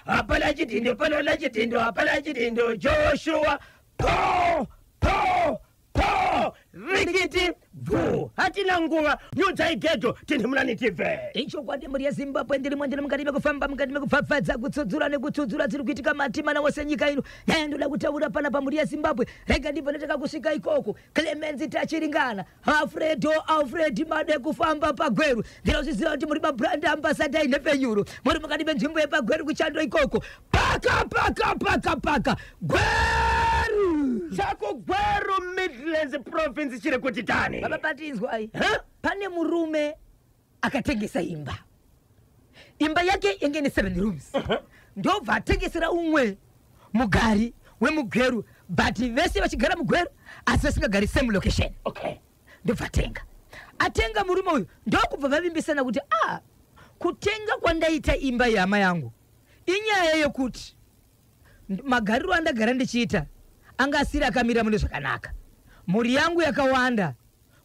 hapana chidhindo pano na chidhindo hapana chidhindo joshua po po po rikiti bvu hatina nguva nyudzai gedho tinhimulani tibve ichokwadi mhuri yezimbabwe ndiri mwendiri mukati mekufamba mukati mekupfapfadza kutsudzura nekutsudzura dziri kuitika matimana wose nyika ino naye ndoda kutaura pana pamhuri yezimbabwe rega ndibve ndotaka kusvika ikoko clemenzi tachiringana Alfredo Alfred made kufamba pagweru ndinozviziva kuti muri mabrand ambasada inhepfenyuro muri mukati menzvimbo yepagweru kuchando ikoko paka paka paka paka gweru chako gweru midlands province chiri kuti tani baba patinzwai pane murume akatengesa imba imba yake yange ine seven rooms ndobva atengesera umwe mugari wemugweru but vese vachigara mugweru asi vasingagari same location okay ndobva atenga atenga murume uyu ndokubva vavimbisana kuti ah kutenga kwandaita imba yehama yangu inyaya yekuti nd- magariro andagara ndichiita anga asiri akamira mune zvakanaka mhuri yangu yakawanda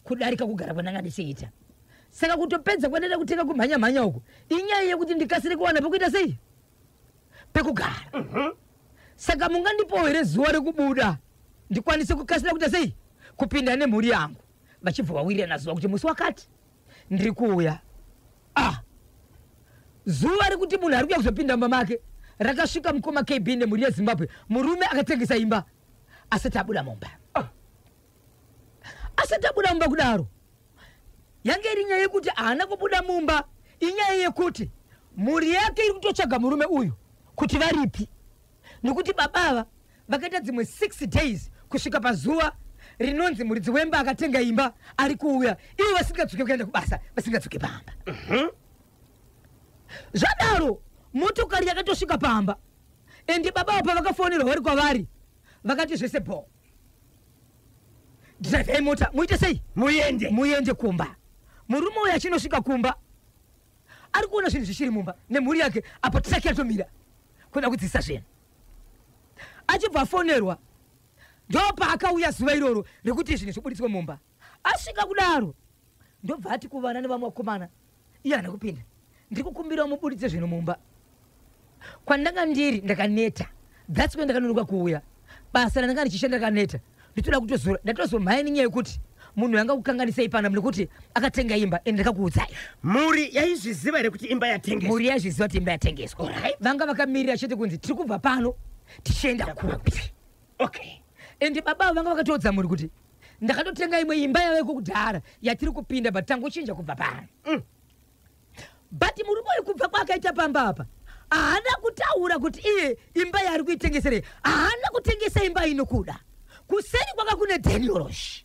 kudarika kugara kwandanga ndichiita saka kutopedza kwandaida kutenga kumhanya mhanya uku inyaya yekuti ndikasire kuwana pekuita sei pekugara mhm. saka mungandipawo here zuva rekubuda ndikwanise kukasira kuita sei kupinda nemhuri yangu vachibva vawirirana zuva kuti musi wakati ndiri kuuya ah zuva rekuti munhu ari kuya kuzopinda mumba make rakasvika mukoma kb nemhuri yezimbabwe murume akatengesa imba asati abuda mumba ah. asati abuda mumba kudaro yange iri nyaya yekuti haana kubuda mumba inyaya yekuti mhuri yake iri kutotsvaga murume uyu kuti varipi nekuti baba ava vakaita dzimwe six days kusvika pazuva rinonzi muridzi wemba akatenga imba ari kuuya ivo vasingadzoke kuenda kubasa vasingadzoke pamba mhm. zvadaro motokari yakatosvika pamba endi baba avo pavakafonerwa vari kwavari vakati zvese bhoo drivei mota muite sei muende muende kumba murume uyo achinosvika kumba ari kuona zvinhu zvichiri mumba nemhuri yake apo traki yatomira kuda kudzisa zvinhu achibva afonerwa ndopaakauya zuva iroro rekuti zvinhu zvibuditswe mumba asvika kudaro ndobva ati kuvana nevamwe vakomana iye hana kupinda ndiri kukumbira umubuditse zvinhu mumba kwandanga ndiri ndakaneta thats way ndakanonoka kuuya basa randanga ndichishanda ndakaneta nditoda kutozora ndatozomhaini nyaya yekuti munhu yanga kukanganisei pana nekuti akatenga imba and ndakakuudzai mhuri yaizviziva here kuti imba yatengeswa mhuri yaizviziva kuti imba yatengeswa vanga vakamirira chete kunzi tiri kubva pano tichienda kupi okay ende baba avo vanga vakatoudza mhuri kuti ndakatotenga imwe imba yaveko kudhara yatiri kupinda but tangochinja kubva pano mm. but murume uyu kubva kwaakaita pamba apa haana kutaura kuti iye imba yaari kuitengesere haana kutengesa imba inokuda kuseri kwaka kune daniorosh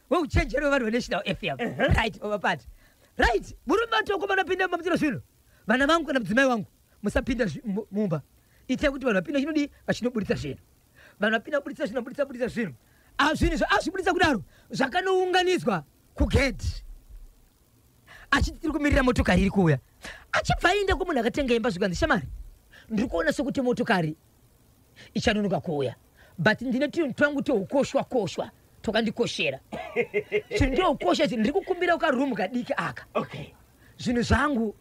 weuchenjeri wevanhu venational fm right baba pati right murume atoko vanopinda mumba muchiro zvino vana vangu kana mudzimai wangu musapinda zvi- mu- mumba itai kuti vanhu vapinda chinodii vachinoburitsa zvinhu vanhu vapinda kuburitsa zvinhu vaburitsa buritsa zvinhu Ah, zvinhu zva- azviburitsa kudaro zvakanounganidzwa kugedhi achiti tiri kumirira motokari iri kuuya achibva aenda kumunhu akatenga imba zvikanzi shamari ndiri kuona sokuti motokari ichanonoka kuuya but ndine tunhu twangu tweukoshwa koshwa twakandikoshera chinhu ndoukosha chi ndiri kukumbira ukarumu kadiki aka zvinhu zvangu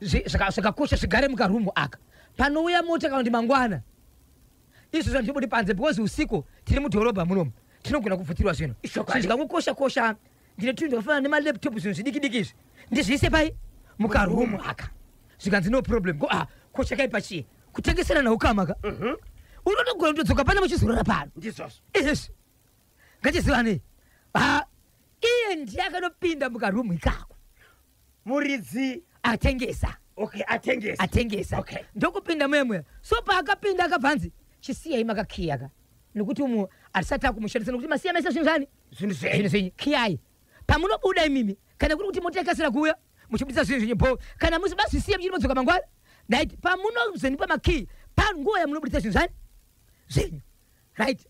zvakakosha zvigare mukarumu aka panouya mota kana kuti mangwana izvo zvanhu tibudi panze because usiku tiri mudhorobha munomu tinogona kupfutirwa zvinhu zvikangokosha kosha ndine tunhu twakafanana nemalaptop zvinhu zvidiki diki izvi ndizviise pai mukarumu aka zvikanzi no problem ko ah ko chakaipa chii kutengeserana ukama ka Mhm. unotogona kutodzoka pana muchizorora pano ndizvozvo izvezvi ngachizivanei ha iye ndiye akanopinda mukarumu ikako muridzi atengesa okay atengesa atengesa Okay. ndokupinda muyemweya so paakapinda akabva anzi chisiyai makakiya ka nekuti umu hatisati akumushandisa nekuti masiya mese zvinhu zvani zvinhu zvenyu zvenyu kiyai pamunobuda imimi kana kuri kuti mota ikasira kuuya muchibudisa zvinhu zvenyu bho kana musi basisiye muchiti modzoka mangwana right pamunozondipa makiyi panguva yamunobudisa zvinhu zvani zvenyu right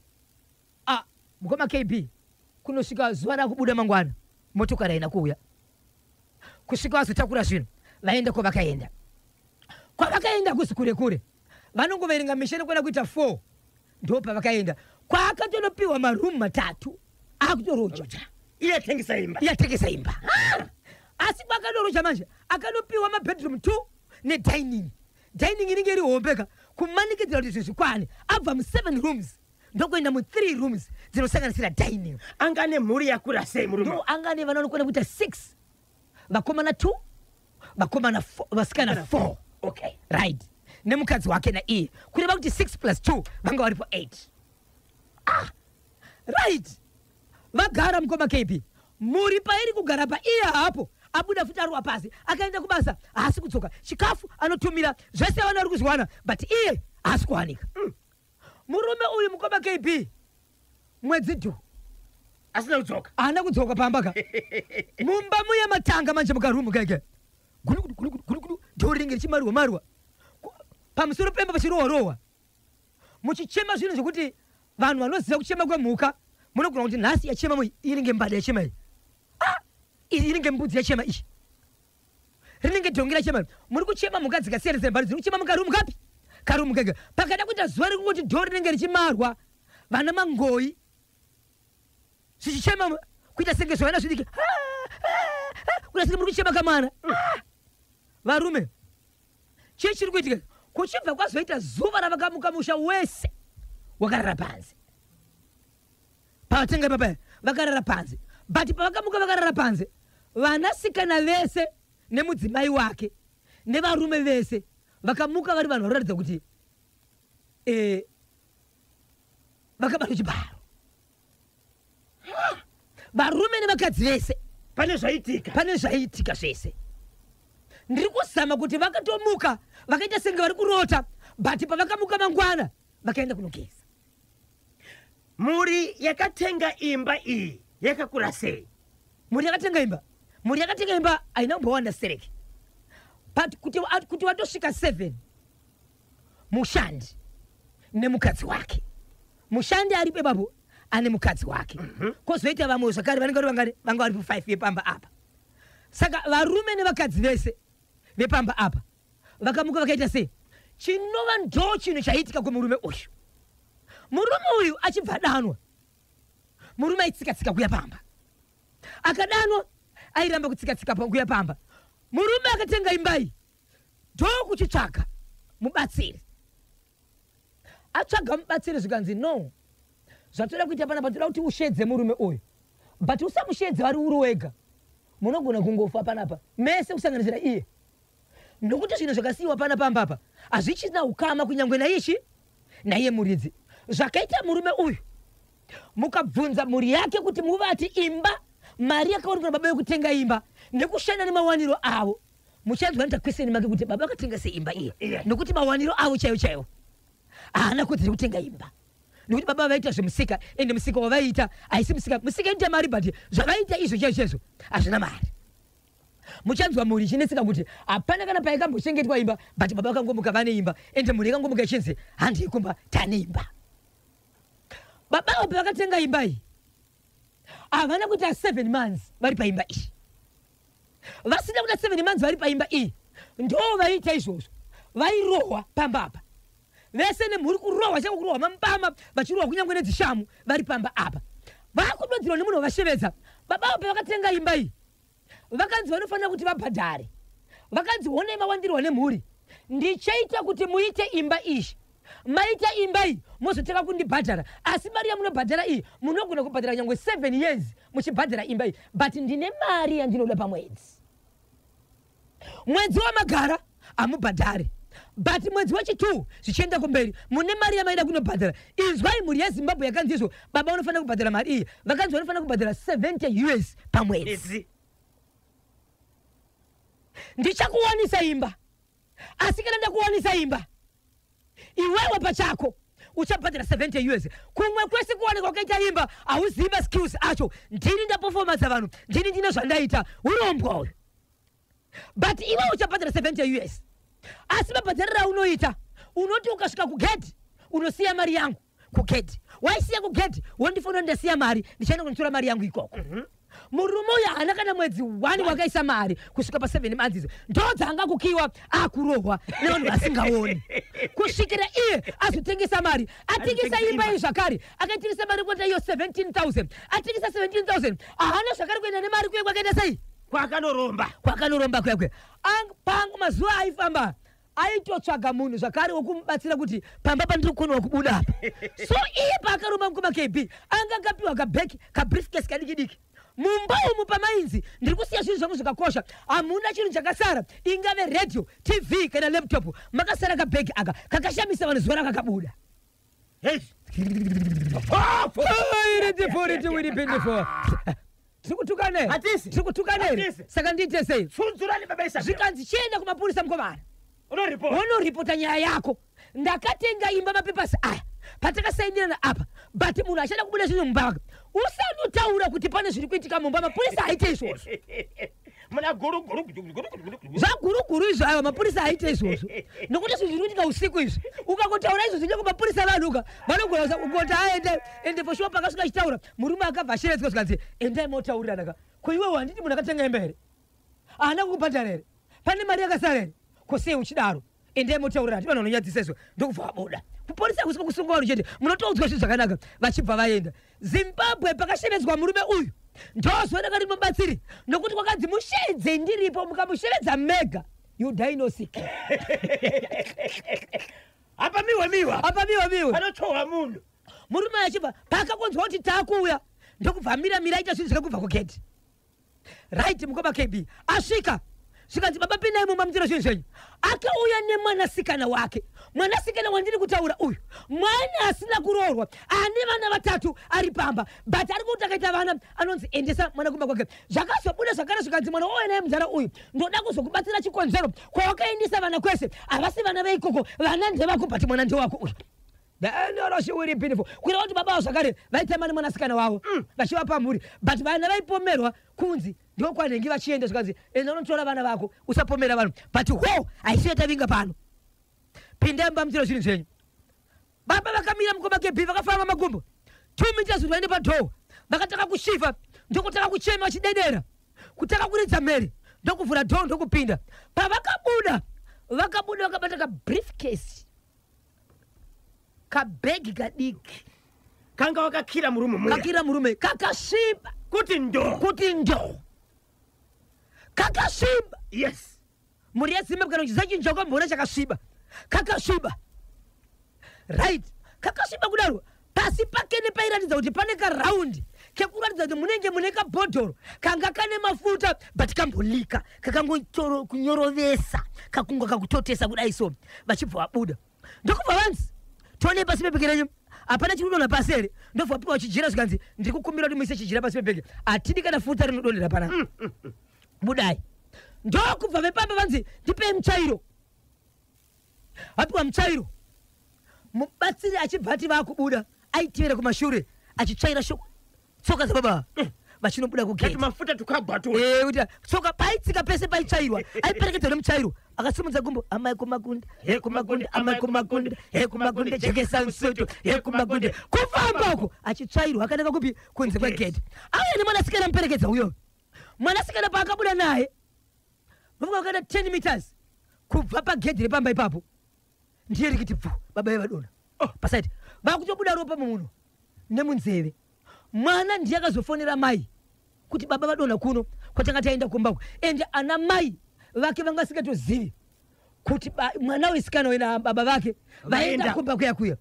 ah, mukoma kb kunosvika zuva rakubuda mangwana motokari haina kuuya kusvika vazotakura zvinhu vaenda kwavakaenda kwavakaenda kusi kure kure vanongoverenga misha nekwana kuita four ndo pavakaenda kwaakatonopiwa maroom matatu akutoroja iye atengesa imba iye atengesa imba asi kwaakatoroja manje akanopiwa mabedroom two nedining dining inenge iri hombeka kumanikidzira kuti zvezvikwane abva museven rooms ndokuenda muthree rooms dzinosanganisira dining anga ane mhuri yakura sei murume anga ane vana vanokwana kuita six vakomana two vakomana vasikana four okay. right nemukadzi wake naiye kureva kuti six plus two vanga varipo eight ah, right vagara mukoma kb mhuri pairi kugara paiye hapo abuda futi arwa pasi akaenda kubasa haasi kudzoka chikafu anotumira zvese vana ari kuzviwana but iye haasi kuwanika mm. Murume uyu mukoma KB mwedzi dhu asina kudzoka haana kudzoka pamba ka mumba muya matanga manje mukarumu keke gulukudu dhori ringe richimarwa marwa pamusoro pemba pachirohwa rohwa muchichema zvinhu zvekuti vanhu vanoziva kuchema kwemhuka munogona kuti nhasi yachema inenge mbada yachema iyi ah! inenge mbudzi yachema iyi rinenge dhongi rachema muri kuchema mhuka dzikasiyana siyana bari dziri kuchema mukarumu kapi karumu kega pakada kuita zuva rekungoti dhoo rinenge richimarwa vana mangoyi zvichichema kuita senge zvavana zvidiki kuita senge muri kuchema kamwana varume chii chiri kuitika kuchibva kwazoita zuva ravakamuka musha wese wakarara panze pavatenga ipapa vakarara panze but pavakamuka vakarara panze vanasikana vese nemudzimai wake nevarume vese vakamuka vari vanhu vanoratidza kuti eh, vakabata chibharo varume nevakadzi vese pane zvaitika pane zvaiitika zvese ndiri kuzama kuti vakatomuka vakaita senge vari kurota but pavakamuka mangwana vakaenda kunogeza mhuri yakatenga imba iyi yakakura sei mhuri yakatenga imba mhuri yakatenga imba haina kumbowanda stereki but kuti, kuti watosvika seven mushandi nemukadzi wake mushandi ari pebapo ane mukadzi wake mhm. kozoita mm -hmm. vamwe zvakare vanenge vangari vanga vari pu five yepamba apa saka varume nevakadzi vese vepamba apa vakamuka vakaita sei chinova ndo chinhu chaiitika kumurume uyu murume uyu achibva adanwa murume aitsikatsika kuya pamba akadanwa airamba kutsikatsika kuya pamba murume akatenga imbai ndo kuchitsvaga mubatsiri atsvaga mubatsiri zvikanzi no zvatoda kuita panapa toda kuti ushedze murume uyu but usamushedze vari uri wega munogona kungofa panapa mese kusanganisira iye Nokuti zvinhu zvakasiyiwa pana pamba apa hazvichina ukama kunyangwe naiye chi naiye muridzi. Zvakaita murume uyu mukabvunza mhuri yake kuti muvati imba mari yakawanikwa nababa yokutenga imba nekushanda nemawaniro avo muchanzwa nitakweseni make kuti baba vakatenga seimba iye yeah. nokuti mawaniro avo chaiwo chaiwo haana kuti tiri kutenga imba nokuti baba vaita zvemusika ende musika wavaiita haisi musika musika inoita mari but zvavaiita izvo chaizvo chaizvo hazvina mari muchanzwa mhuri ichinetseka kuti hapana kana paikambochengetwa imba but baba vakangomuka vane imba ende mhuri ikangomuka ichinzi handii kumba tane imba baba avo pavakatenga imba iyi havana kuita seven months vari paimba iyi vasina kuita seven months vari paimba iyi ndo vaiita izvozvo vairohwa pamba apa vese nemhuri kurohwa chavo kurohwa mambama vachirohwa kunyange nedzishamu vari pamba apa vakudodzirwa nemunhu wavashevedza baba avo pavakatenga imba iyi vakadzi vanofanira kuti vabhadhare vakadzi honai mawandirwa nemhuri ndichaita kuti muite imba izvi maita imba iyi mozotanga kundibhadhara asi mari yamunobhadhara iyi munogona kubhadhara nyange seven years muchibhadhara imba iyi but ndine mari yandinoda pamwedzi mwedzi wamagara hamubhadhari but mwedzi wechitwo zvichienda kumberi mune mari yamaida kunobhadhara inzwai mhuri yezimbabwe yakanzi izvo baba vanofanira kubhadhara mari iyi vakanzi vanofanira kubhadhara 70 us pamwedzi ndichakuwanisa imba asi kana ndakuwanisa imba iwewe pachako uchabhadhara 70 us kumwe kwese kuoneka ukaita imba hauzivi maskills acho ndini ndaperformansa vanhu ndini ndine zvandaita urombwa uyu but iwe uchabhadhara 70 us asi mabhadhariro aunoita unoti ukasvika kugedhi unosiya mari yangu kugedhi waisiya kugedhi wondifonera ndasiya mari ndichaenda kunditora mari yangu ikoko mhm. murume uyo haana kana mwedzi one wakaisa mari kusvika paseven months idzo ndoo dzaanga kukiwa akurohwa nevanhu vasingaoni kusvikira iye azotengesa mari atengesa imba iyi zvakare akaitengesa mari kuenda iyo seventeen thousand atengesa seventeen thousand haana zvakare kuenda nemari kuye kwakaenda sei kwakanoromba kwakanoromba kuyakwe pang mazuva aifamba aitotsvaga munhu zvakare wokumubatsira kuti pamba pandiri kukoniwa kubuda apa so iye paakaromba mukoma kb anga akapiwa kabheki kabriskes kadiki diki mumba umu pamainzi ndiri kusiya zvinhu zvangu zvakakosha hamuna chinhu chakasara ingave radio tv kana laptop makasara kabheki aka kakashamisa vanhu zuva rakakabuda tikutukane tikutukane saka ndiite sei zvikanzi chienda kumapurisa mukomana wonoripota nyaya yako ndakatenga imba mapepasi aya patakasainirana apa but munhu achada kubuda zvinhu mumba wake usanotaura kuti pane zviri kuitika mumba mapurisa aite izvozvo muna guruguru zvaguruguru izvo ayo mapurisa aite izvozvo nokuti izvi zviri kuitika usiku izvi ukangotaura izvo zvinenge mapurisa vanhuka vanogona kungoti aende ende for sure pakasvika achitaura murume akabva asheredzwa zvikanzi endai motaurirana ko iwewe handiti munhu akatenga hembe here haana kukubhadhara here pane mari yakasara here ko sei uchidaro ende motaurira hati vanhu vanonyadzisa izvo ndokubva vabuda kuporisa kusi kukusunga vanhu chete munotoudzwa zvinhu zvakanaka vachibva vaenda zimbabwe pakashevedzwa murume uyu ndozoona kati mubatsiri nokuti kwakanzi mushedze ndiripo mukamushevedza mega you die no sick apa miwa miwa apa miwa miwa anotohwa munhu murume achibva paakakonzwa kuti takuuya ndokubva mira mira aita zvinhu zvekubva kugedhi right mukoma kb asvika zvikanzi baba pinai mumba muchira zvinhu zvenyu akauya nemwanasikana wake mwanasikana wandiri kutaura uyu mwana asina kuroorwa ane vana vatatu ari pamba but ari kuti akaita vana anonzi endesa mwana kumba kwake zvakazobuda zvakare zvikanzi mwana wauya naye mudhara uyu ndoda kuzokubatsira chikonzero kwawakaendesa vana kwese havasi vana veikoko vana ndevako but mwana ndewako uyu Then your she will be beautiful. Kuitira kuti baba vavo zvakare vaitema nemwanasikana wavo mm. vachivapa mhuri but vana vaipomerwa kunzi ndokwanenge vachienda zvikanzi enda unotora vana vako usapomera vanhu but ho haisi yatavinga pano pindai mba muchiro zvinhu zvenyu baba vakamira mukoma kebhi vakafamba magumbo two meters kuti vaende padhoo vakatanga kushiva ndokutanga kuchema vachidedera kutanga kuridza mhere ndokuvhura dhoo ndokupinda pavakabuda vakabuda vakabata kabrief case kabhegi kadiki kanga wakakira murume muya kakira murume kakasviba kuti ndo kuti ndo kakasviba yes mhuri yezimbabwe kana kuchiziva chinhu chakamboona chakasviba kakasviba right kakasviba kudaro pasi pake nepairatidza kuti pane karaundi kekuratidza kuti munenge mune kabhodhoro kanga kane mafuta but kambolika kakangonyorovesa kakunga kakutotesa kudai so vachibva vabuda ndokubva vanzi tone pasi pebheke renyu hapana chiri kudonha pasi here ndobva wapiwa chijira zvikanzi ndiri kukumbira kuti muise chijira pasi pebheke hatidi kana futa rinodonhera pana mm, mm, mm. budai ndokubva vepamba vanzi ndipei muchairo Apiwa mutsvairo, mubatsiri achibva ati vakubuda aitevera kumashure achitsvaira shoko tsoka dzababa mm. vachinobuda kugetimafuta tukabwatura eh, kuti tsoka paitsika pese paitsvairwa aiperekedzwa nemutsvairo akasimudza gumbo amai kumakunde he kumakunde amai kumakunde he kumakunde jekesa nsoto he kumakunde kufamba uko achitsvairwa akanaka kupi kunze kwegedhi auya nemwanasikana muperekedza uyo mwanasikana paakabuda naye Baba vakaenda 10 meters kubva pagedhi repamba ipapo ndiye rikiti bvu baba vevadona oh. pasaiti vakutobuda ropa mumuno nemunzeve mwana ndiye akazofonera mai kuti baba vadona kuno kwatanga taenda kumba uku ende ana mai vake vanga vasingatozivi kuti mwana wesikana uyu nababa vake vaenda kumba kuya kuya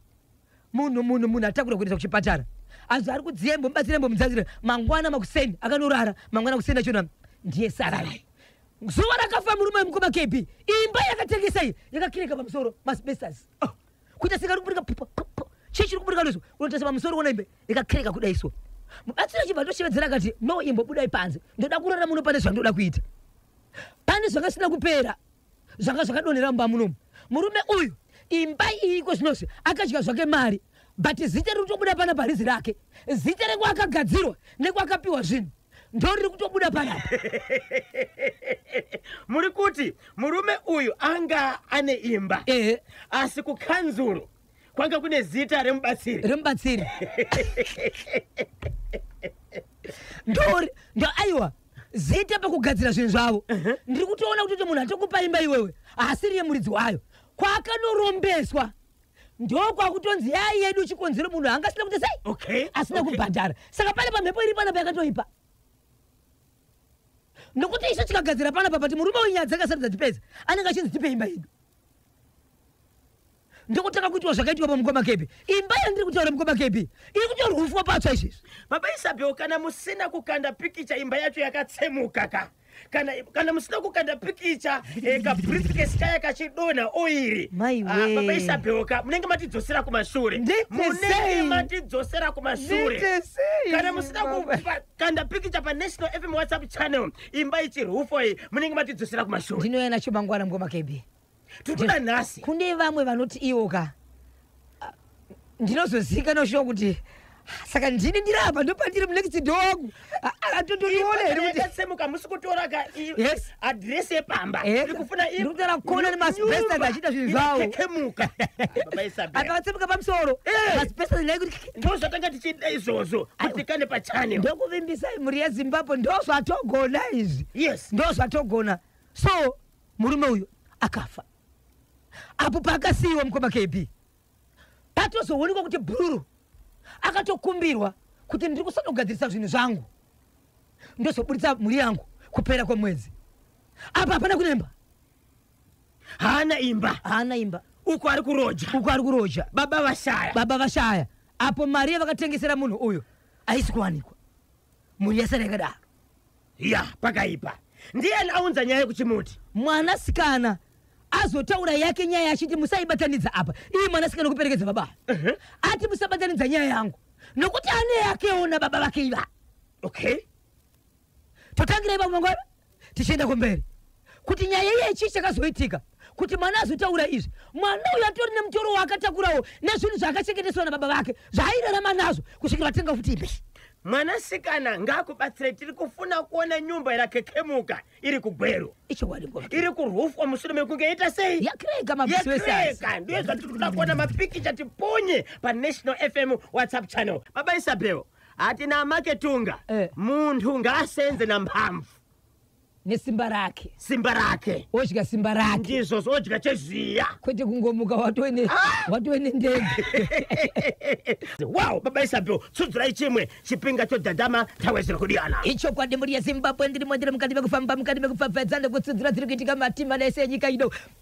munhu munhu munhu atakura kuendesa kuchipatara anzi ari kudziyembo mubatsirembo mudzazire mangwana makuseni akanorara mangwana makuseni achona ndiye saralai zuva rakafa murume wemukoma kb imba yakatengesa iyi yakakireka pamusoro masbestas oh. kuita sika rikuburika chii chiri kuburika noizvo unotarisa pamusoro wona imbe yakakireka kudai so mubatsiri achibva toshevedzera akati no imbo budai panze ndoda kurara muno pane zvandoda kuita pane zvanga zvisina kupera zvanga zvakadonhera mumba munomu murume uyu imba iyi iko zvinozvi akadya zvake mari but zita riri kutobuda pana parizi rake zita rekwakagadzirwa nekwakapiwa zvinhu ndo riri kutobuda panapa muri kuti murume uyu anga ane imba ehe asi kukanzuru kwanga kune zita remubatsiri remubatsiri ndori ndo aiwa zita pakugadzira zvinhu zvavo uh-huh. ndiri kutoona kutoti munhu atokupa imba iwewe haasiri yemuridzi wayo kwakanorombeswa ndokwakutonzi yai yedu chikonzero munhu anga asina kuita sei okay. asina okay. kubhadhara saka pane pamhepo iri panapa yakatoipa nokuti isu tikagadzira panapa pati murume wenyaya dzakasarudza tipedza anenge achinzi tipe imba yedu ndokutanga kuitwa zvakaitwa pamukoma kepi imba yandiri kutaura mukoma kepi iri kutorwa ufwa patsva izvezvi baba isabel kana musina kukanda pikicha imba yacho yakatsemuka ka kana kana musina kukanda pikicha eh, kabriefcase kaya kachidonha oiri Maiwe. Ah, baba isabel ka munenge matidzosera kumashure Ndite munenge sei? matidzosera kumashure Ndite sei, kana musina baba? kukanda pikicha panational fm whatsapp channel imba ichirufo iyi munenge matidzosera kumashure ndinouya nacho mangwana mukoma kepi tikuda nhasi kune vamwe vanoti iwo ka ah, ndinozozika noshuwa kuti ah, saka ndini ndiri apa ndopandiri munext do wangu ah, atondoriona here kutisemuka musi kutora ka adress yepamba ndikufuna kuona nemasbesta achiita zvinhu zvawo apavatsemuka pamusoro eh. masbesta naikuti ndozvatanga tichiita izvozvo kuti kane pachane ndokuvimbisai mhuri yezimbabwe ndozvatogona izvi ndozvatogona so murume uyu akafa apo paakasiyiwa mukoma kb patozoonekwa kuti bhururu akatokumbirwa kuti ndiri kusanogadzirisa zvinhu zvangu ndozoburitsa mhuri yangu kupera kwemwedzi apa hapana kunemba haana imba haana imba uko ari kuroja uko ari kuroja baba vashaya baba vashaya apo mari yavakatengesera munhu uyu haisi kuwanikwa mhuri yasara yakadaro ya pakaipa ndiyani aunza nyaya yekuchimuti mwana sikana azotaura yake nyaya achiti musaibatanidza apa iye mwana sikana kuperekedza baba ati musabatanidza nyaya yangu nokuti ane yakewo nababa vake iva okay totangirai vamwe nguva tichienda kumberi kuti nyaya iye chii chakazoitika kuti mwana azotaura izvi mwana uyo atori nemutoro waakatakurawo nezvinhu zvaakachengeteswa nababa vake zvaairarama nazvo kusvikira vatenga futi ipi mwanasikana ngaakubatsire tiri kufuna kuona nyumba yakakekemuka iri kugweru iri kurufwa mushure mekunge ita sei yakrega ndiyo zvatiri kuda kuona mapikicha tipunye panational fm whatsapp channel baba isabel hatina maketunga eh. munhu ngaasenze nambamvu nesimba rake simba rake odya simba rake ndizvozvo odya cheziya kwete kungomuka watove ne- Ah! watove nendege wow baba isabel tsudzirai chimwe chipinga chodhadhama tawedzera kudiyana ichokwadi mhuri yezimbabwe ndiri mwendiri mukati mekufamba mukati mekupfapfadza nekutsudzira dziri kuitika matimana ese enyika ino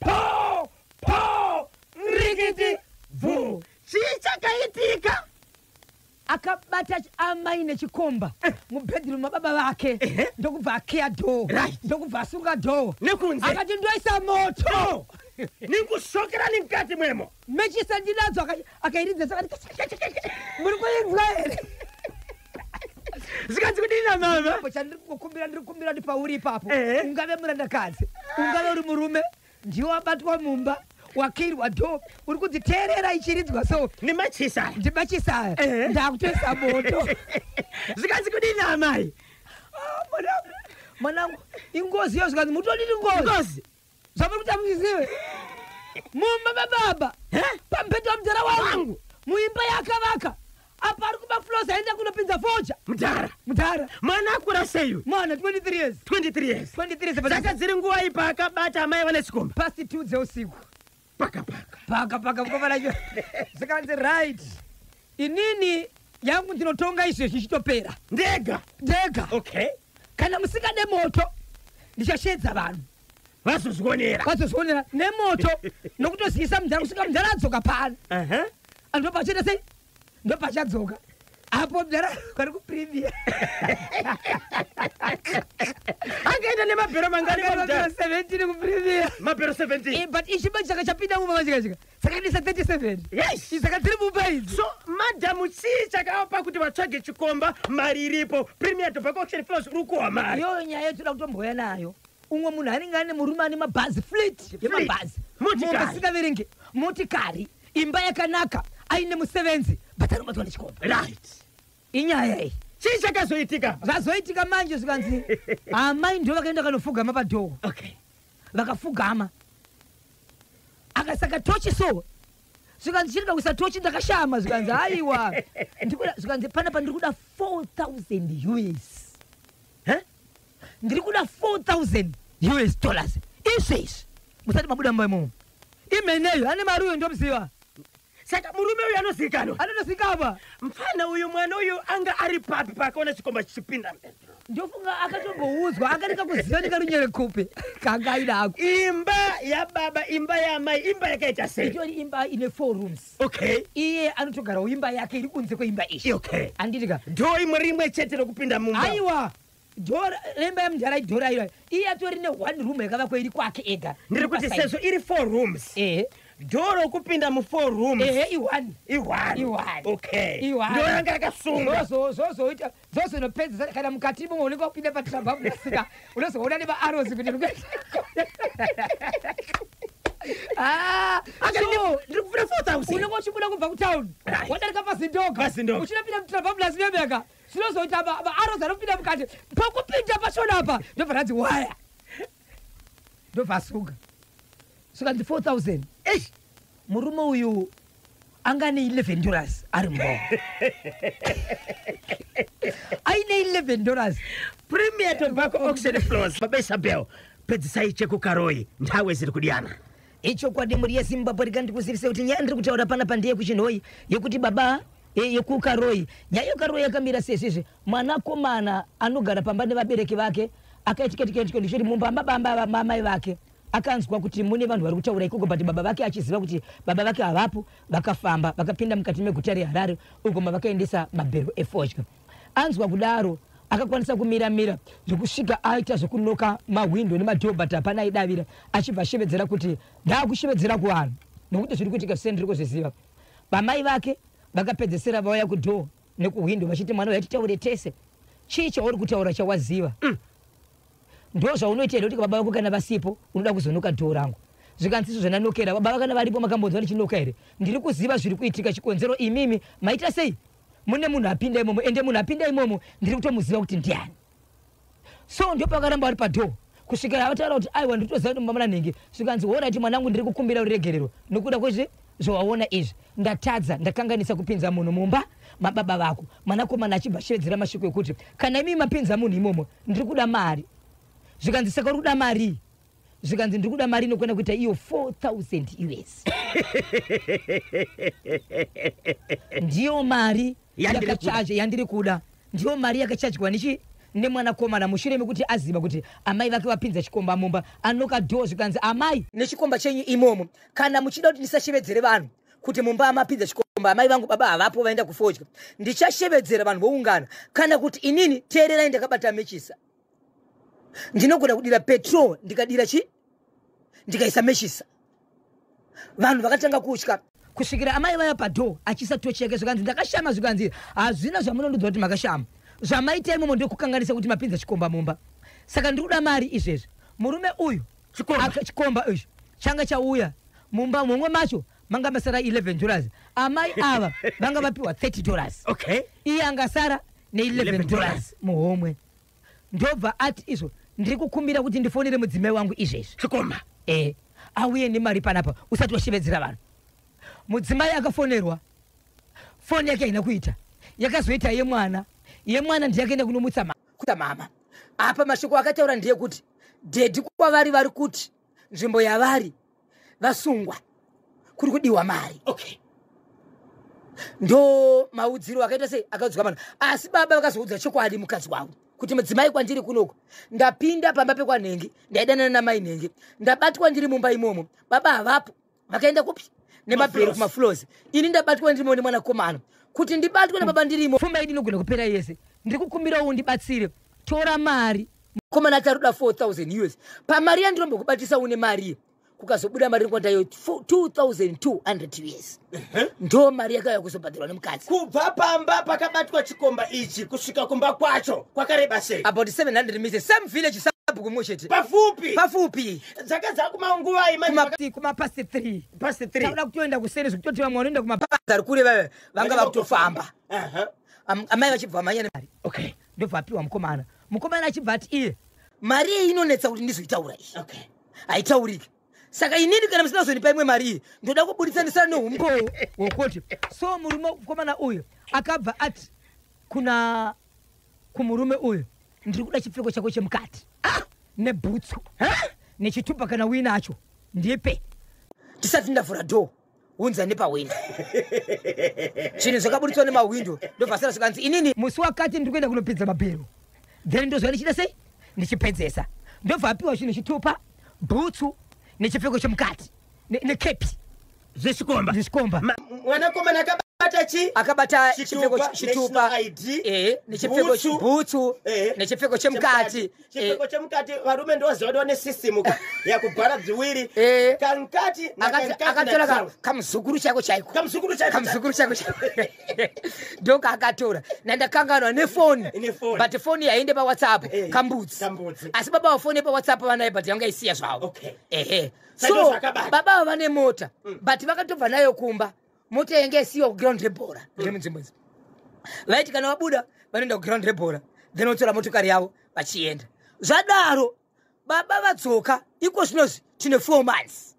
Poo! Poo! Rikiti! Bvuu! Chii chakaitika? akabata amai nechikomba eh. mubedroom mababa vake ndokubva akeya doo ndokubva asunga doo nekunze akati ndoisa moto nekusokera nemukati mwemo mechisa ndinadzo akati akairidza zvakati muri kuinzwa here zvikanzi kudini namama po chandiri kukumbira ndiri kukumbira ndi pauri ipapo Ehe. ungave murandakadzi ungave uri murume ndiwe wabatwa mumba wakirwa do uri kudziteerera ichiridzwa so nemachisa ndimachisaya Ehe. ndakutoisa moto zvikanzi kudini amai Ah, mwanangu mwanangu ingozi iyo zvikanzi mutodiri ngozi ngozi zvamuri kuita muchizive mumba mababa pamubhedha wamudhara wangu muimba yaakavaka apa ari kuba flos aenda kunopinza foja mudhara mudhara mwana akura sei uyu mwana 23 years 23 years 23 dzaka dziri nguva ipa akabata amai vane sikomba pasi 2 dzeusiku paka paka paka paka mukoma nacho zikanzi right inini yangu ndinotonga izvezvi ichitopera ndega ndega okay kana musingade moto ndichashedza vanhu vazozvionera vazozvionera nemoto nokutozivisa mudhara kusvika mudhara adzoka pano anhu vabva vachiita sei ndopachadzoka apo bdara vari kuprivia akaenda nemabhero manganimabhero 17 kuprivia mabhero 17 eh, but ichiba chaka chapinda mumba machikachika sakadisa 37 yes saka tiri mumba idzi so madam chii chakavapa kuti vatsvage chikomba mari iripo premier tobacco auction flows uri kuwa mari iyo nyaya yotoda kutomboya nayo umwe munhu anenge ane murume ane mabhazi flit yemabhazi munhu asingaverenge motikari imba yakanaka aine musevenzi but anobatwa nechikomba right inyaya iyi chii chakazoitika zvazoitika manje zvikanzi amai ndo vakaenda kanofugama padhoo okay vakafugama akasaka tochi so zvikanzi chirida kuisa tochi ndakashama zvikanzi haiwa zvikanzi panapa ndiri kuda 4000 us ndiri kuda 4000 us dollars izvi izvi musati mabuda mumba imomo imeneyo ane mari uyo ndomuziva saka murume uyu anozikanwa anotozikanwa mfana uyu mwana uyu anga ari papi paakaona chikomba chichipinda ndofunga akatomboudzwa akanika kuziva nekarunyere kupi kanga aida ako imba yababa imba yaamai imba yakaita sei itori imba ine four rooms okay iye anotogarawo imba yake iri kunze kweimba iyi okay anditika dhoo imwe rimwe chete rokupinda mumba aiwa Door remba yamudhara idhora iro iye atori ne one room yakavakwa iri kwake ega ndiri kuti sezvo iri four rooms ehe doro kupinda mu four rooms ehe i one i one i one okay i one ndoro ranga rakasunga zvozo zvozo ita zvozo no pedza kana mukati mo unenge kupinda pa tramba musika unozoona ne ba arrows kuti ndikuita Ah, ndiri kufuna 4000 unenge uchibuda kubva kutown wadarika pazindoga uchinopinda mutrabablas nemeka zvinozoita vaarozi anopinda mukati pokupinda pashona apa ndobva ranzi waya ndobva asuka suka ndi 4000 eish murume uyu angane 11 dollars ari mbo aine 11 dollars premier tobacco auction floors baba isabel pedzisai chekukaroyi ntawe ziri kudiyana Ichokwadi mhuri yeZimbabwe rega ndikuzivise kuti nyaya ndiri kutaura pana pandeye kuchinhoyi yekuti baba eh, yekukaroyi nyaya yekukaroyi yakamira sezvizvi mwanakomana anogara pamba nevabereki vake akaitika tikaitiko ndichoti mumba mabamba mamai vake akanzwa kuti mune vanhu vari kutaura ikoko but baba vake achiziva kuti baba vake havapo vakafamba vakapinda mukati meguta reharare uko mavakaendesa mabhero efodya Anzwa kudaro akakwanisa kumira mira zvekusvika aita zvekunoka mahwindo nemadhoo but hapana aidavira achibva ashevedzera kuti ndaakushevedzera kuvanhu nokuti zviri kuitika zvisene ndiri kuzviziva vamai vake vakapedzesera vauya kudhoo nekuhwindo vachiti mwana uya titaure tese chii chauri kutaura chawaziva mm. ndo zvaunoita here kuti baba vako kana vasipo unoda kuzonoka dhoo rangu zvikanzi izvo zvananokera baba vakana varipo makambonzwa ndichinoka here ndiri kuziva zviri kuitika chikonzero imimi maita sei mune munhu apinda imomo ende munhu apinda imomo ndiri kutomuziva kuti ndiani so ndopakaramba ari padhoo kusvikira vataura kuti aiwa nditoziva kuti mumamana nhingi svikanzi horaiti mwanangu ndiri kukumbira uregerero nokuda kwezvi zvawaona izvi ndatadza ndakanganisa kupinza munhu mumba mababa vako mwanakomana achibva shevedzera mashoko ekuti kana imii mapinza munhu imomo ndiri kuda mari zvikanzi saka uri kuda marii zvikanzi ndiri kuda mari inokwana kuita iyo 4000 us ndiyo mari yakachaje yandiri kuda ndiyo mari yakachajwa nechi nemwanakomana mushure mekuti aziva kuti amai vake vapinza chikomba mumba anoka dhoo zvikanzi amai nechikomba chenyu imomo kana muchida kuti ndisashevedzere vanhu kuti mumba amapinza chikomba amai vangu baba havapo vaenda kufodya ndichashevedzera vanhu voungana kana kuti inini teererai ndakabata mechisa ndinogona kudira petrol ndikadira chi ndikaisa meshisa vanhu vakatanga kutya kusvikira amai vaya padoo achiisa tochi yake zvikanzi ndakashama zvikanzi hazvina zvamunondiudza kuti makashama zvamaita imomo ndokukanganisa kuti mapinza chikomba mumba saka ndiri kuda mari izvezvi murume uyu chikomba ichi changa chauya mumba momwe macho manga masara 11 dollars amai ava vanga vapiwa 30 dollars okay. iye angasara ne11 dollars muhomwe ndobva ati izvo ndiri kukumbira kuti ndifonere mudzimai wangu izvezvi chikoma e auye nemari panapa usati washevedzera vanhu mudzimai akafonerwa foni yake haina kuita yakazoita yemwana yemwana ndiyakaenda kunomutsa kuta mama apa mashoko akataura ndeyekuti dhedhi kwavari vari kuti nzvimbo yavari vasungwa kuri kudiwa mari okay ndo maudziro akaita sei akaudzwa vanhu asi baba vakazoudza chokwadi mukadzi wavo kuti mudzimai kwandiri kunoko ndapinda pamba pekwanhengi ndaidanana namai nhengi ndabatwa ndiri mumba imomo baba havapo vakaenda kupi nemabhero kumaflozi ini ndabatwa ndirimo nemwanakomana kuti ndibatwe nababa ndirimo pfuma idi inogona kupera yese ndiri kukumbirawo ndibatsire tora mari mukomana acharuda 4000 us pamari yandinombokubatisa une mari kukazobuda mari rinkwanda yo 2200 us ndo mari yakauya kuzobhadharwa nemukadzi kubva pamba pakabatwa chikomba ichi kusvika kumba kwacho kwakareba sei about 700 mise same village sabhuku mumwe chete pafupi pafupi dzaka dzakumanguvai kumapast 3 past 3 tauda kutoenda kuseri zvekutoti vamwe vanoenda kumapast ari kure vave vanga vakutofamba amai vachibva manyana mari okay ndobva apiwa mukomana mukomana achibva ati iye mari iyi inonetsa kuti ndizoitaura iyi okay. haitaurike saka inini kana musina kuzondipa imwe mari iyi ndoda kubuditsanisira neumbowo wokuti so murume mukomana uyu akabva ati kuna kumurume uyu ndiri kuda chipfeko chako chemukati ah! nebhutsu ah! nechitupa kana winacho ndipe tisati ndavhura dhoo unza nepahwindo zvinhu zvakaburitswa nemahwindo ndobva sara zvikanzi inini musi wakati ndiri kuenda kunopedza mabhero then ndozva ndichida sei ndichipedzesa ndobva apiwa chinhu chitupa bhutsu nechipfeko chemukati nekepi zvechikomba zvechikomba mwanakomana akaba akabata chi akabata chipfeko chitupa eh nechipfeko chibhutsu eh. nechipfeko chemukati chipfeko eh. chemukati varume ndoziva kuti vane system ka yakubhara bziwiri eh. kankati akatora kamuzukuru chako chaiko kamuzukuru chaiko kamuzukuru chaiko chaiko ndoka akatora nandakanganwa nefoni but foni yaende pawhatsapp eh. kambudzi asi baba vafoni pawhatsapp vanaye but yanga isiya zvavo ehe so baba avo vane mota mm. but vakatobva nayo kumba motengesiwa kuground rebhora kune mm. munzvimbo idzi vaiti kana vabuda vanoenda kuground rebhora then votora motokari yavo vachienda zvadaro baba vadzoka iko zvinozvi tine four months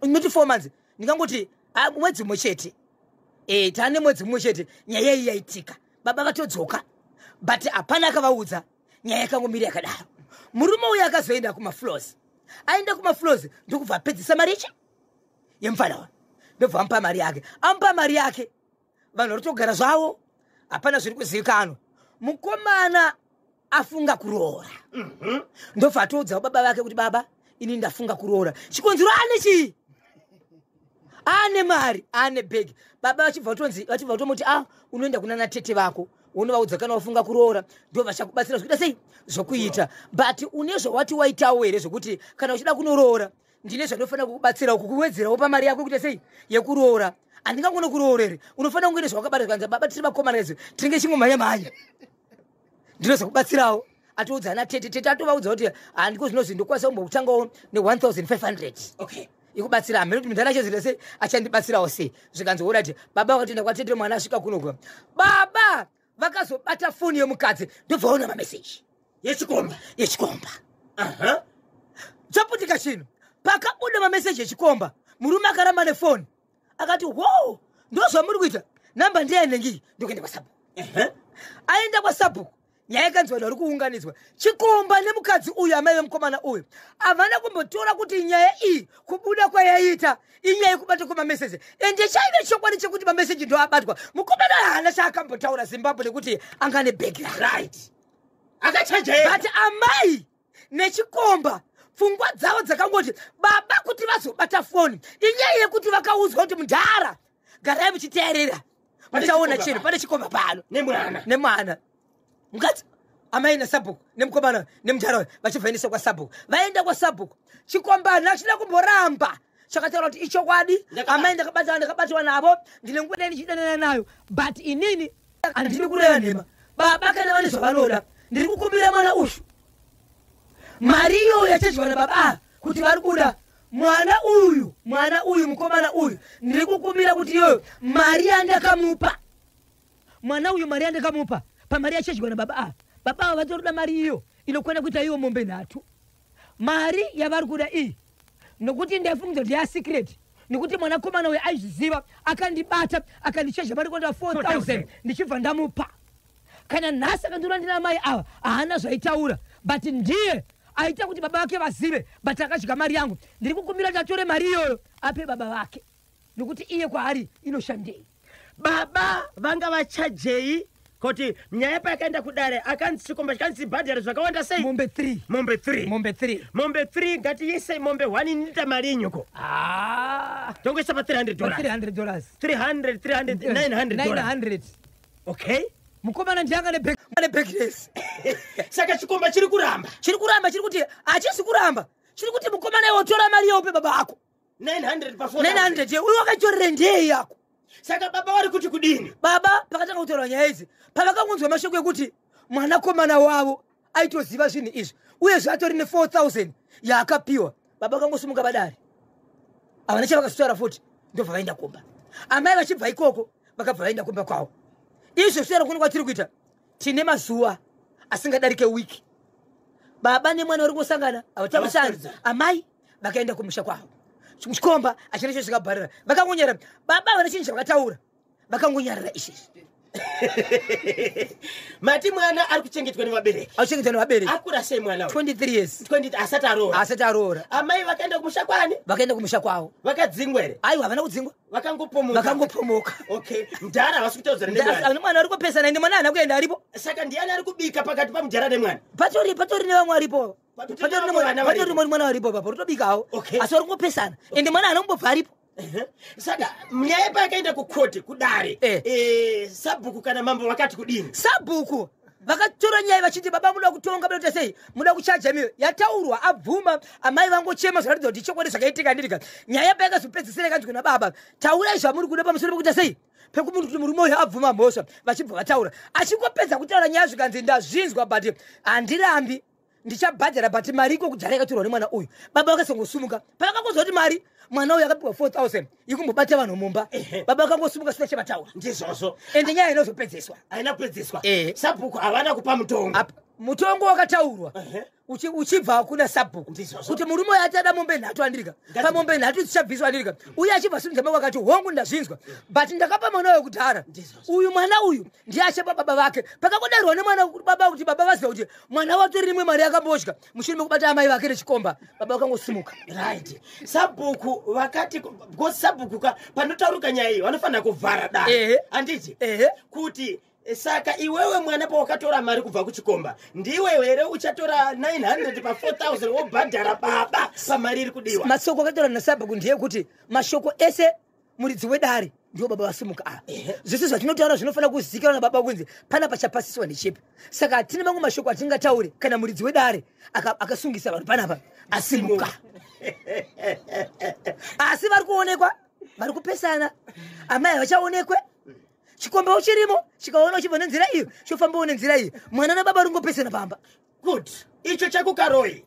noti four months ndingangoti ah, mwedzi mumwe chete e, tane mwedzi mumwe chete nyaya iyi yaitika baba vatodzoka but hapana akavaudza nyaya yakangomiri yakadaro murume uyo akazoenda kumafloors aenda kumafloors ndokubva apedzisa maricha yemfana wa ndobva amupa mari yake amupa mari yake vanhu vari kutogara zvavo hapana zviri kuzivikanwa mukomana afunga kuroora mhm. ndobva atoudzawo baba vake kuti baba ini ndafunga kuroora chikonzero ane chii ane mari ane bhegi baba vachibva vatonzi vachibva vatomuti a ah, unoenda kuna natete vako unovaudza kana wafunga kuroora ndo vachakubatsira zvokuita sei zvokuita but une zvawati waitawo here zvokuti kana uchida kunoroora ndine zvandofanira kukubatsirawo kukuwedzerawo pamari yako kuita sei yekuroora handingangone kuroorere unofanira kunge nezvawakabata zvikanzi baba tiri vakomana izvo tinenge chingomhanya mhanya ndinozokubatsirawo atiudza ana tete tete atovaudza kuti handiko zvino zvi ndokwanisa kumbokutangawo ne1500 ikubatsira hameno kuti mundana chezita sei achandibatsirawo sei zvikanzi orati baba wakatoenda kwatete mwana asvika kunoga baba vakazobata foni yemukadzi ndobvaona mameseji yechikomba yechikomba aha chaputika chino pakabuda mameseji echikomba murume akaramba nefoni akati wow ndozvamuri kuita namba ndiyainengi ndokuenda kwasabhuku aenda kwasabhuku nyaya ikanzi vanhu vari kuunganidzwa chikomba nemukadzi uyu amai vemukomana uyu havana kumbotora kuti nyaya iyi kubuda kwayaiita inyaya yekubata kwemameseji and chaive chokwadi chekuti mameseji ndo abatwa mukomana haana chaakambotaura zimbabwe nekuti anga ne background right akachajaira but amai nechikomba pfungwa dzavo dzakangoti baba kuti vazobata foni inyaya yekuti vakaudzwa kuti mudhara garai muchiteerera muchaona chinhu pane chikomba pano nemwana nemwana mukadzi amai nasabhuku nemukomana nemudhara uyo vachibva endesa kwasabhuku vaenda kwasabhuku chikombana achida kumboramba chakataura kuti ichokwadi amai ndakabatana ndakabatwa navo ndine nguva dai ndichidanana nayo but inini handidi kureva nhema baba kana vane zvavanoda ndiri kukumbira mwana uyu mari iyoyo yachadyiwa nababa ava kuti vari kuda mwana uyu mwana uyu mukomana uyu ndiri kukumbira kuti iyoyo mari yandakamupa mwana uyu mari yandakamupa pamari yachadyiwa nababa ava baba ava vatori kuda mari iyo inokwana kuita iwo mombe nhatu mari yavari kuda iyi nokuti ndaifungidzwa kuti yasecret nekuti mwanakomana uyo aizviziva akandibata akandichezha mari kwandaa 4000 ndichibva ndamupa kana nhasi akandiona ndina mai ava haana zvaitaura but ndiye aita kuti baba vake vazive but akadya mari yangu ndiri kukumbira kuti atore mari iyoyo ape baba vake nokuti iye kwaari inoshandei baba vanga vachajei kuti nyaya payakaenda kudare akanzi chikomba chikanzi bhadhari zvakawanda sei mombe three mombe three mombe three mombe three ngatiisei mombe one inita mari yenyuko Ah, tongoisa pa 300 dollars 300 dollars 300 300 900 dollars 900 okay mukomana ndianga nebag ane backless saka chikomba chiri kuramba chiri kuramba chiri kuti hachisi kuramba chiri kuti mukomana iwe tora mari yeupe baba ako 900 pa 900 uyo wakatorera ndei yako saka baba vari kuti kudini baba pakatanga kutaura nyaya idzi pavakangonzwa mashoko ekuti mwanakomana wavo aitoziva zvinhu izvi uye zvatori ne 4000 yaakapiwa baba vakangosimuka vadari havana chavakasutaura futi ndobva vaenda kumba amai vachibva ikoko vakabva vaenda kumba kwavo izvo sutaura kuno kwatiri kuita tine mazuva asingadarike wiki baba nemwana uri kungosangana havatamashani amai vakaenda kumusha kwavo chikomba achina cho chikabharira vakangonyarira baba vane chinhu chavakataura vakangonyarira izvezvi mati mwana ari kuchengetwa nevabereki akuchengetwa nevabereki akura sei mwana 23 years 20 asati aroora asati aroora amai vakaenda kumusha kwani vakaenda kumusha kwavo vakadzingwa here aiwa havana kudzingwa vakangopomoka vakangopomoka okay mdhara havasi kutaudza ne mwana ari kupesana ende mwana haana kuenda aripo saka ndiyani ari kubika pakati pamdhara nemwana patori patori nevamwe aripo patori moni mwana varipo papa rutobikawo asi vari kungopesana ende mwana ana kumbobva aripo saka nyaya paakaenda kukote kudare eh. Eh, sabhuku kana mambo vakati kudini sabhuku vakatora nyaya vachiti baba muda kutonga bata sei muda kuchaja miyo yataurwa abvuma amai vangochema zvinoratidza kuti chokwadi zvakaitika ndirika nyaya payakazopedzisira kanzwi kuna baba taurai zvamuri kuda pamusoro pekuita sei pekumunhu kuti murume uyo abvuma mhosva vachibva vataura achingopedza kutaura nyaya zvikanzi ndazvinzwa but handirambi ndichabhadhara but mari iko kudhara yakatorwa nemwana uyu baba vakasongosumuka pavakangozwa kuti mari mwana uyu akapiwa 4000 ikumbobata vanhu mumba baba vakangosumuka sina chavataura ndizvozvo ende nyaya inozopedzeswa haina kupedzeswa eh. sabhuku havana kupa mutongo mutongo wakataurwa uchibva kuna sabhuku kuti murume uyo ati ada mombe nhatu andirika pamombe nhatu dzichabviswa andirika uye achibva simudza mako akati hongu ndazvinzwa but ndakapa mwana uyo kudhara uyu mwana uyu ndiye achapa baba vake pakakodarwa nemwana baba kuti baba vaziva kuti mwana wake rimwe mari yakambodya mushure mekubata amai vake nechikomba baba vakangosimuka right sabhuku vakati because sabhuku ka panotaurika nyaya iyi vanofanira kuvhara da handiti kuti eh, saka iwewe mwana pawakatora mari kubva kuchikomba ndiwe here uchatora 900 pa 4000 wobhadhara baba pamari iri kudiwa masoko akatora nasabhuku ndeyekuti mashoko ese muridzi wedare ndiwo baba vasimuka ava zvese zvatinotaura zvinofanira kuzivikanwa nababa kunzi pana pachapasiswa nechipi saka hatine mamwe mashoko atingataure kana muridzi wedare akasungisa vanhu panapa asimuka asi vari kuonekwa vari kupesana amai havachaonekwe chikomba uchirimo chikaona uchibva nenzira iyo chofambawo nenzira iyo mwana nababa ringopesana pamba good icho chekukaroi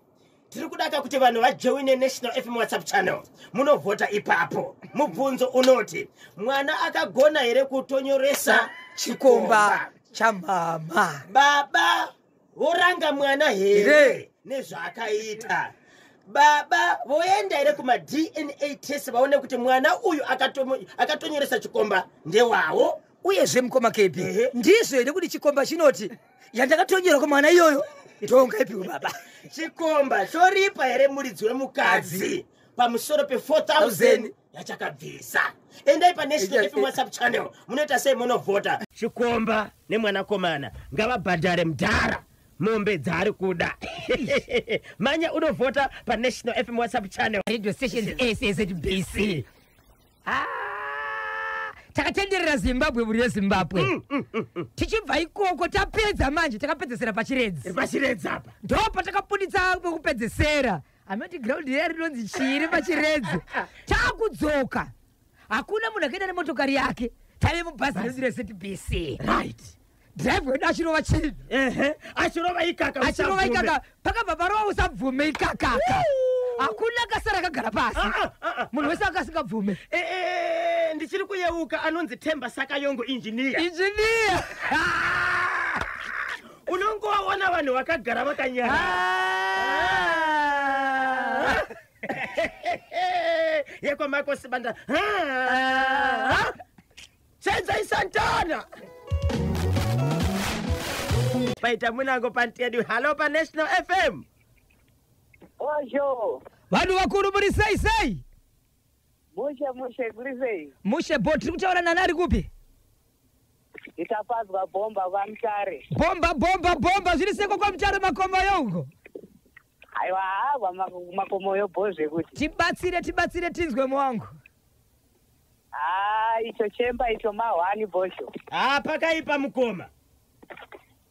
tiri kudaka kuti vanhu vajoine national fm whatsapp channel munovhota ipapo mubvunzo unoti mwana akagona here kutonyoresa chikomba chamama baba voranga mwana here nezvaakaita baba voenda here kumadna test vaone kuti mwana uyu akatonyoresa chikomba ndewawo uyezve mukoma kebi ndizvo here kuti chikomba chinoti yandakatongerwa kwamwana iyoyo ndongaipiwe baba chikomba choripa here muridzi wemukadzi pamusoro pe4000 yachakabvisa endai panesinwhatsapp channel munoita sei monovhota chikomba nemwanakomana ngavabhadhare mdhara mombe dzaari kuda manya unovhota panational fm whatsapp channel radio stations sasbc Ah, takatenderera zimbabwe buri rezimbabwe mm, mm, mm, tichibva ikoko tapedza manje takapedzesera pachiredzi pachiredzi apa ndo patakabuditsa pekupedzesera amati ground riya rinonzi chiri pachiredzi takudzoka hakuna munhu akaenda nemotokari yake tave mubhazi redu rezetbc right drive wedu achirova chii ehe achirova ikaka achirova ikaka pakabva parova usabvume ikakaka hakuna kasara akagara pasi ah, ah, ah, munhu wese akasingabvume eh, eh, ndichiri kuyeuka anonzi temba sakayongo injiniya injiniya unongovaona vanhu vakagara vakanyara yekwamako sibanda Senzai Santana! Paita munango pantedu. Hello pa National FM. Osho. Vanhu vakuru muri sei sei? Mushe mushe kuri sei? Mushe bo tiri kutaura nani ari kupi? Nditapadzwa bomba kwa Mutare. Bomba bomba bomba zviri seko kwa Mutare makomo yongo. Aiwa hava makomo yo bo zvekuti. Tibatsire tibatsire tinzwe mwangu. haa icho chemba icho mahwani bosho haa pakaipa mukoma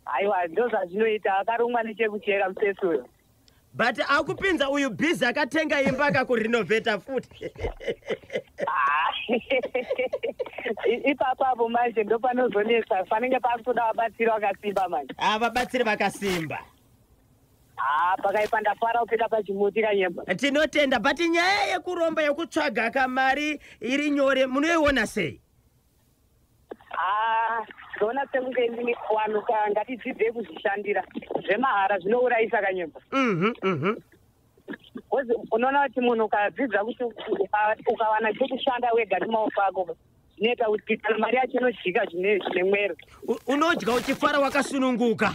aiwa ndozvazvinoita akarumwa nechekuchera musesi uyo but akupinza uyu busy akatenga imba akakurenovheta futi ipapo apo manje ndopanozonetsa panenge pakutoda vabatsiri vakasimba manje ah, vabatsiri vakasimba haa pakaipa ndafara kupinda pachimuti kanyemba tinotenda but nyaya yekuromba yekutsvaga kamari iri nyore munoiona sei haa ndoona sekunge ndini wanu ka ngatidzidzei kuzvishandira zvemahara zvinourayisa kanyemba mhm, mhm. bcause unoona kuti munhu ukadzidza kuti ukawana chekushanda wega nemaoko ako zvinoita kuti kana mari yacho inodyika zvine mwero unodya uchifara wakasununguka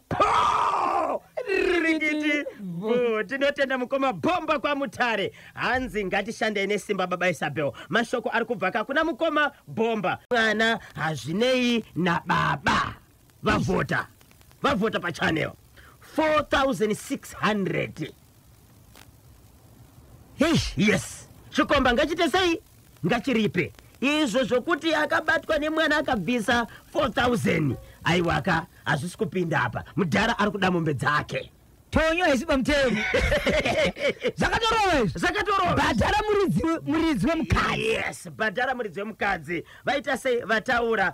rikiti bho tinotenda mukoma bhomba kwamutare hanzi ngatishandei nesimba baba isabel mashoko ari kubva ka kuna mukoma bhomba mwana hazvinei nababa vavhota vavhota pachanel 4600 yes chikomba ngachite sei ngachiripe izvo zvokuti akabatwa nemwana akabvisa 4000 aiwaka hazvisi kupinda apa mudhara ari kuda mombe dzake tonyo haisi pamutemo zvakatorova izvi zvakatorova bhadhara muridzi we- muridzi wemukadzi yes bhadhara muridzi wemukadzi vaita sei vataura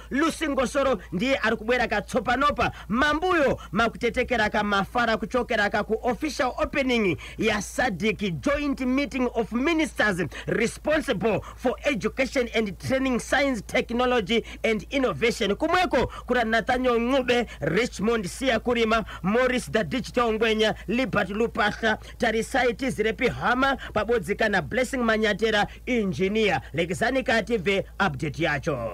Lucy Ngosoro ndiye ari kubwera katsopanopa mambuyo makutetekera kamafara kuchokera ka ku official opening ya SADC joint meeting of ministers responsible for education and training science technology and innovation kumweko kuna Nathaniel Ncube Richmond Siya Kurima Morris the Digital Ngwenya Libert Lupahla Tarisai Tizirepi Hama pabodzika na Blessing Manyatera engineer lekezani kative update yacho